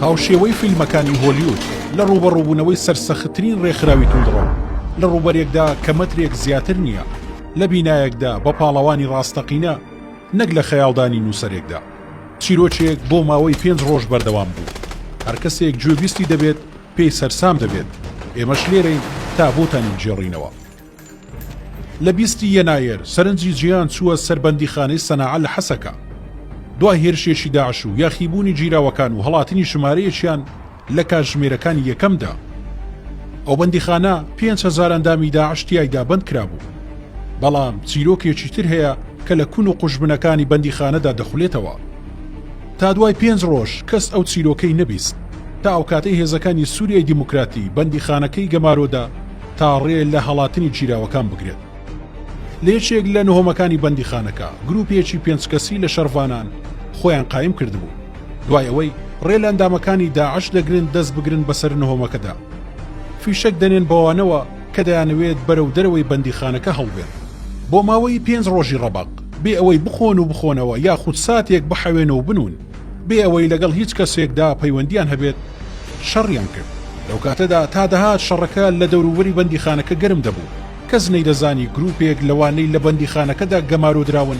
هاوشێوەی فیلمەکانی هۆلیود، لە ڕووبەڕووبوونەوەی سەرسەختترین ڕێکخراوی توندڕەو، لە ڕووبەرێکدا کە مەترێک زیاتر نییە، لە بینایەکدا بە پاڵەوانی ڕاستەقینە، نەک لە خەیاڵدانی نووسەرێکدا. چیرۆکێک بۆ ماوەی پێنج ڕۆژ بەردەوام بوو. هەر کەسێک گوێبیستی دەبێت، پێی سەرسام دەبێت. ئێمەش لێرەین تا بۆتان یەکگێڕینەوە. لە بیست ی یەنایەر سەرنجی جیهان چووە سەر بەندیخانەی سەناعە لە حەسەکە، دوای هێرشێکی داعش و یاخیبوونی گیراوەکان و هەڵاتنی ژمارەیەکیان لە کاتژمێرەکانی یەکەمدا. ئەو بەندیخانە پێنج هەزار ئەندامی داعش تیایدا بەندکرابوو. بەڵام چیرۆکێکی تر هەیە کە لە کون و قوژبنەکانی بەندیخانەدا دەخولێتەوە. تا دوای پێنج رۆژ کەس ئەو چیرۆکەی نەبیست، تا ئەوکاتەی هێزەکانی سوریای دیموکراتی بەندیخانەکەی گەمارۆدا، تا ڕێ لە هەڵاتنی گیراوەکان بگرێت. لە یەکێک لە نهۆمەکانی بەندیخانەکە، گرووپێکی پێنج کەسی لە شەڕڤانان خۆیان قایم کردبوو. دوای ئەوەی ڕێ لە ئەندامەکانی داعش دەگرن دەست بگرن بەسەر نهۆمەکەدا، فیشەک دەنێن بەوانەوە کە دەیانەوێت بەرەو دەرەوەی بەندیخانەکە هەڵبێن. بۆ ماوەی پێنج ڕۆژی ڕەبەق، بێ ئەوەی بخۆن و بخۆنەوە یاخود ساتێک بحەوێن و بنوون. بێ ئەوەی لەگەڵ هیچ کەسێکدا پەیوەندییان هەبێت، شەڕیان کرد. لەو کاتەدا تا دەهات شەڕەکە لە دەوروبەری بەندیخانەکە گەرم دەبوو. کەس نەیدەزانی گرووپێک لەوانەی لە بەندیخانەکەدا گەمارۆدراون،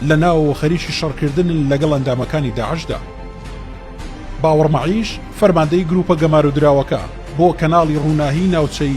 لە ناوەوە خەریکی شەڕکردنن لەگەڵ ئەندامەکانی داعشدا. باوەڕ مەعیش، فەرماندەی گرووپە گەمارۆدراوەکە، بۆ کەناڵی رووناهیی ناوچەی،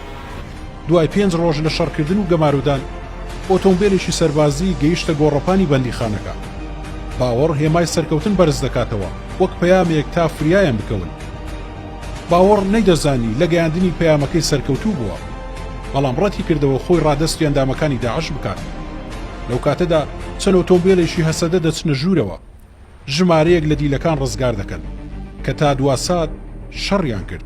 دوای پێنج ڕۆژ لە شەڕکردن و گەمارۆدان، ئۆتۆمبێلێکی سەربازی گەیشتە گۆڕەپانی بەندیخانەکە. باوەڕ هێمای سەرکەوتن بەرز دەکاتەوە، وەک پەیامێک تا فریایان بکەون. باوەڕ نەیدەزانی لە گەیاندنی پەیامەکەی سەرکەوتوو بووە، بەڵام ڕەتی کردەوە خۆی ڕادەستی ئەندامەکانی داعش بکات. لەو کاتەدا چەند ئۆتۆمبێلێکی هەسەدە دەچنە ژوورەوە، ژمارەیەک لە دیلەکان ڕزگار دەکەن، کە تا دوا سات شەڕیان کرد.